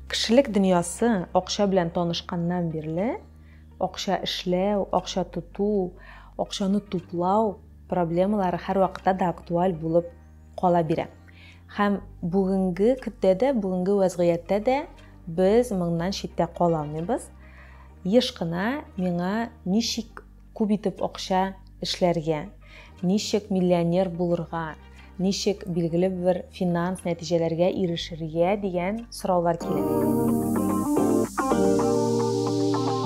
Кешелек дөньясы акча белән танышканнан бирле акча эшләү, акча тоту, акчаны туплау проблемалары һәрвакытта да актуаль булып кала бирә. Һәм бүгенге көндә дә, бүгенге вәзгыятьтә дә без моңнан читтә кала алмыйбыз. Еш кына миңа ничек Күп итеп акча эшләргә, ничек миллионер булырга, ничек билгеле бер финанс нәтиҗәләргә ирешергә дигән сораулар килә.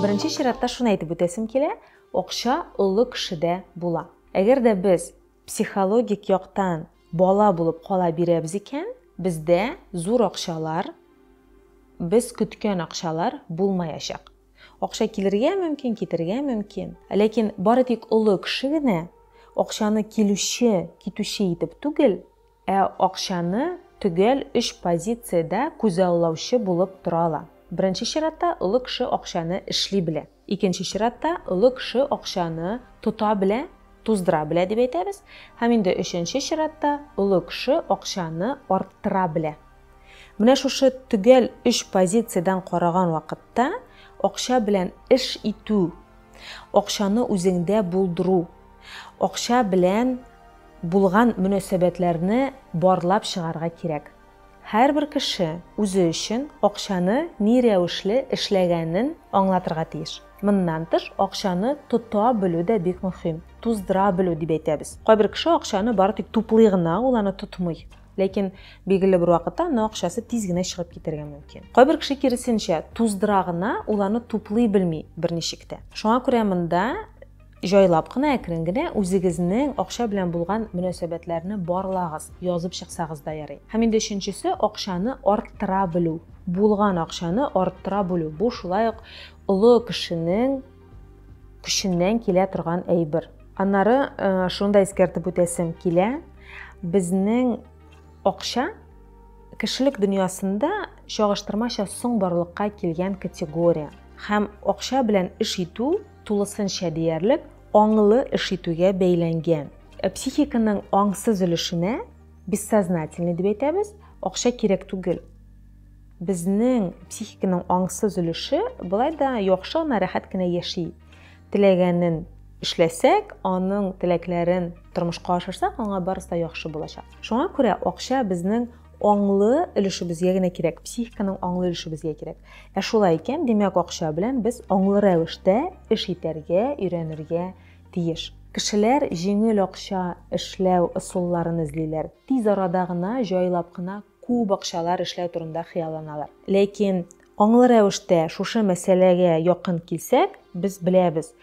Беренче чиратта шуны әйтеп үтәсем килә, акча олы кешедә була. Әгәр дә без психологик яктан бала булып кала бирәбез икән, бездә зур акчалар, без көткән акчалар булмаячак. Акча килергә мөмкин, китергә мөмкин. Ләкин бары тик олы кеше генә акчаны килүче, китүче итеп түгел, ә акчаны төгәл өч позициядә күзаллаучы булып тора ала. Беренче чиратта, олы кеше акчаны эшли белә. Икенче чиратта, олы кеше акчаны тота белә, туздыра белә дип әйтәбез. Һәм инде өченче чиратта, олы кеше акчаны арттыра белә. Менә шушы төгәл өч позициядән караган вакытта акча белән эш итү, акчаны үзеңдә булдыру, акча белән булган мөнәсәбәтләрне барлап чыгарга кирәк. Һәрбер кеше үзе өчен акчаны ни рәвешле эшләгәнен аңлатырга тиеш. Моннан тыш, акчаны тота белү дә бик мөһим, туздыра белү дип әйтәбез. Кайбер кеше акчаны бары тик туплый гына, ул аны тотмый. Ләкин билгеле бер вакытта аны акчасы тиз генә чыгып китәргә мөмкин. Кайбер кеше киресенчә, туздыра гына, ул аны туплый белми берничек тә. Шуңа күрә монда җайлап кына, әкрен генә үзегезнең акча белән булган мөнәсәбәтләрне барлагыз, язып чыксагыз да ярый. Һәм инде өченчесе, акчаны арттыра белү. Булган акчаны арттыра белү, бу шулай ук олы кешенең көченнән килә торган әйбер. Аннары шуны да искәртеп үтәсем килә, безнең акча кешелек дөньясында чагыштырмача соң барлыкка килгән категория һәм акча белән эш итү тулысынча диярлек аңлы эш итүгә бәйләнгән. Э, психиканың аңсыз өлешенә бессознательный дип әйтәбез, акча кирәк түгел. Безнең психиканың аңсыз өлеше болай да яхшы гына, рәхәт кенә яши. Теләгәнен эшләсәк, аның теләкләрен тормышка ашырсак, аңа барысы да яхшы булачак. Шуңа күрә акча безнең аңлы өлешебезгә генә кирәк, психиканың аңлы өлешебезгә кирәк. Ә шулай икән, димәк, акча белән без аңлы рәвештә эш итәргә, өйрәнергә тиеш. Кешеләр җиңел акча эшләү ысулларын эзлиләр, тиз арада гына, җайлап кына, күп акчалар эшләү турында хыялланалар. Ләкин аңлы рәвештә шушы мәсьәләгә якын килсәк, без беләбез,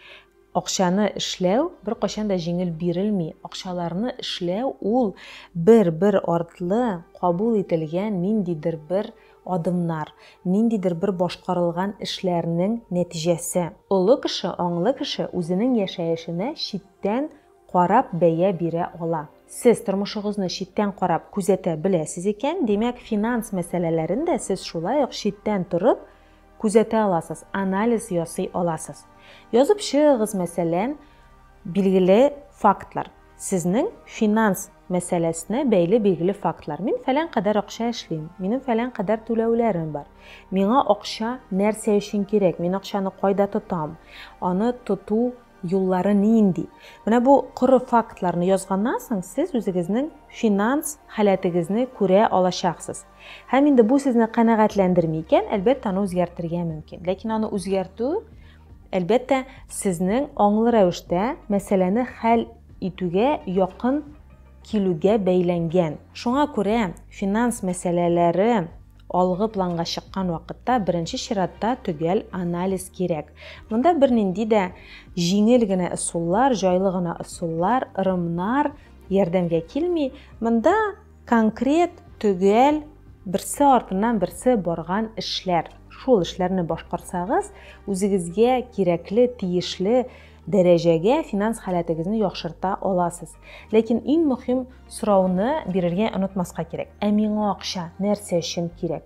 акчаны эшләү беркайчан да җиңел бирелми, акчаларны эшләү ул бер-бер артлы кабул ителгән ниндидер бер адымнар, ниндидер бер башкарылган эшләрнең нәтиҗәсе. Олы кеше, аңлы кеше үзенең яшәешенә читтән карап бәя бирә ала. Сез тормышыгызны читтән карап күзәтә беләсез икән, димәк, финанс мәсьәләләрен дә сез шулай ук читтән торып күзәтә аласыз, анализ ясый аласыз. Язып чыгыгыз, мәсәлән, билгеле фактлар. Сезнең финанс мәсьәләсенә бәйле билгеле фактлар. Мин фәлән кадәр акча эшлим, минем фәлән кадәр түләүләрем бар. Миңа акча нәрсә өчен кирәк, мин акчаны кайда тотам, аны тоту, Юллары нинди? Менә бу коры фактларны язганнан соң, сез үзегезнең финанс халәтегезне күрә алачаксыз. Һәм инде бу сезне канәгатьләндерми икән, әлбәттә, аны үзгәртергә мөмкин. Ләкин аны үзгәртү, әлбәттә, сезнең аңлы рәвештә мәсьәләне хәл итүгә якын килүгә бәйләнгән. Шуңа күрә финанс мәсьәләләре, Алгы планга чыккан вакытта беренче чиратта төгәл анализ кирәк. Монда бернинди дә җиңел генә ысуллар, җайлы гына ысуллар, ырымнар ярдәмгә килми. Монда конкрет, төгәл, берсе артыннан берсе барган эшләр. Шул эшләрне башкарсагыз, үзегезгә кирәкле, тиешле дәрәҗәгә финанс халәтегезне яхшырта аласыз. Ләкин иң мөһим сорауны бирергә онытмаска кирәк. Ә миңа акча нәрсә өчен кирәк?